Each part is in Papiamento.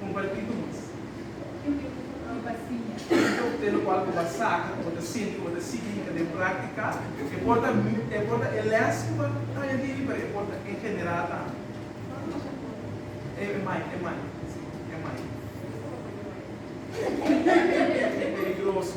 Comparti cu nos. Ken tin un futuro pa siña? Un coktel locual cu bo a saca, cu bo ta sinti, cu bo ta sigui hinca den practica. E por ta e por ta e les cu bo ta haña diri, pero e por ta en general tambe. Cual nos a por ta haña? E mai, e mai, si, e mai. Ken sa bo paña mai? E peligroso.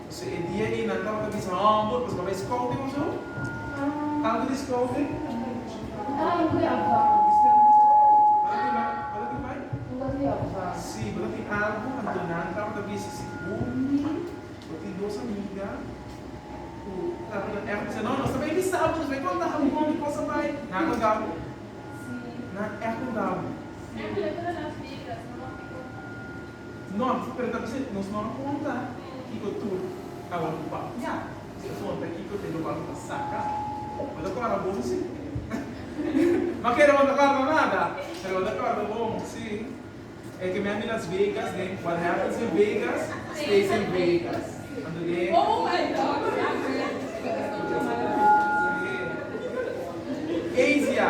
So e dia ei nan tabata bisa humble pasobra bai scouting of so? Tanto di scouting? Bo ta tin bai? Si, bo ta tin algu anto nan tabata bisa si bo mi, bo tin dos amiga ku tabata echo bisa no nos ta bai bisa bo, nos bai konta bo kon di cosa bai. Nan a konta bo? Nan a konta bo? Nort, pero ta bisa nos no a konta kiko tur a wòrdu papiá, si a konta kiko ta yoga lo ta saka, lo ta kòrda bon si. Ma kere no ta kòrda nada, pero lo ta kòrda bon si. E ke mi a mi Las Vegas den What Happens in Vegas Stays in Vegas. Anto den Asia.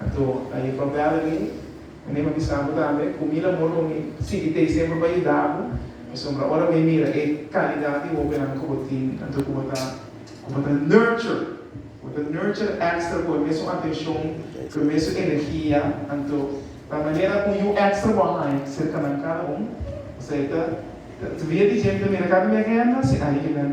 Anto ta e propel de ley. Mi niño a bisa bo tambe cu mi lamon lo mi sigui t'ey semper pa yuda bo, pasobra ora mi mira e calidad di hobennan cu bo tin, anto cu bo ta cu bo ta nurture, cu bo ta nurture extra cu e mesun atencion, cu e mesun energia, anto ta manera un yu extra bo a haña cerca nan cada un, o sea ta ta via di djenta mira cada un di e henda si ay kinan.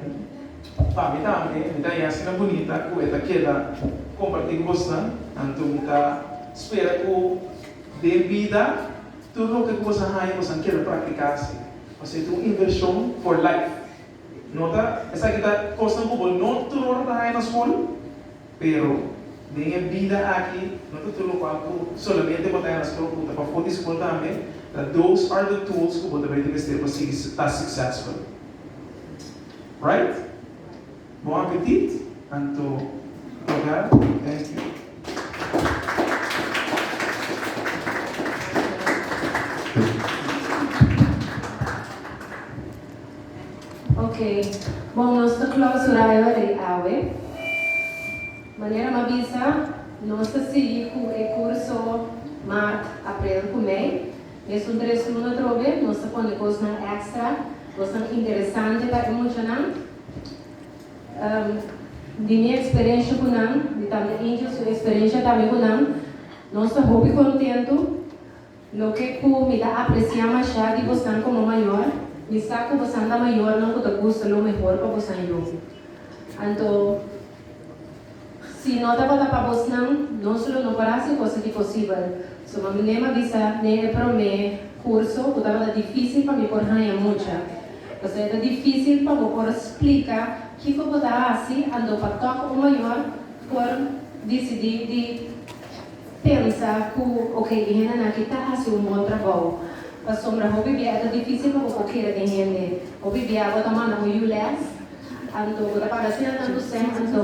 Pa mi tambe mi ta haña asina bunita ku e ta keda kompartí ku bosnan, anto mi ta spera ku den bida tur loke ku boso a haña boso keda praktiká si, pasobra e ta un invershon for life. Nota, esaki ta kosnan ku bo no tur ora ta haña na skol, pero den e bida aki no ta tur lokual ku solamente bo ta haña na skol, ku ta pafó di skol tambe, ta those are the tools ku bo ta bay di mester pa sigui ta suksèsful. Right? Bon apetit, anto Edgar, thank you. Ok, bon nos ta clausura e ora di awe. Manera m'a bisa, nos ta sigui cu e curso Maart, Aprel cu Mei. Esun tres luna trobe nos ta pone cosnan extra bo san interesante pa e muchanan di mi experencia cu nan di tante angel su experencia tambe cu nan nos ta hopi contento loke cu mi ta aprecia masha di bosan como mayor mi sa cu bosan ta mayornan cu ta gusta lo mehor pa bosan yo anto. Si no tabata pa bosnan, nos lo no por hasi cosa ki posibel. So mami Name a bisa, Den e promé kurso ku tabata difísil pa mi por haña mucha. Pasobra ta difísil pa bo por splika kiko bo ta hasi anto pa tòg un mayor por disidí di. Pensa cu oke e hendenan aki ta haci un bon trabou, pasobra hopi bia e ta dificil pa bo por keda den hende. Hopi bia bo ta manda un ULEZ, anto bo ta paga asina tanto sem, anto.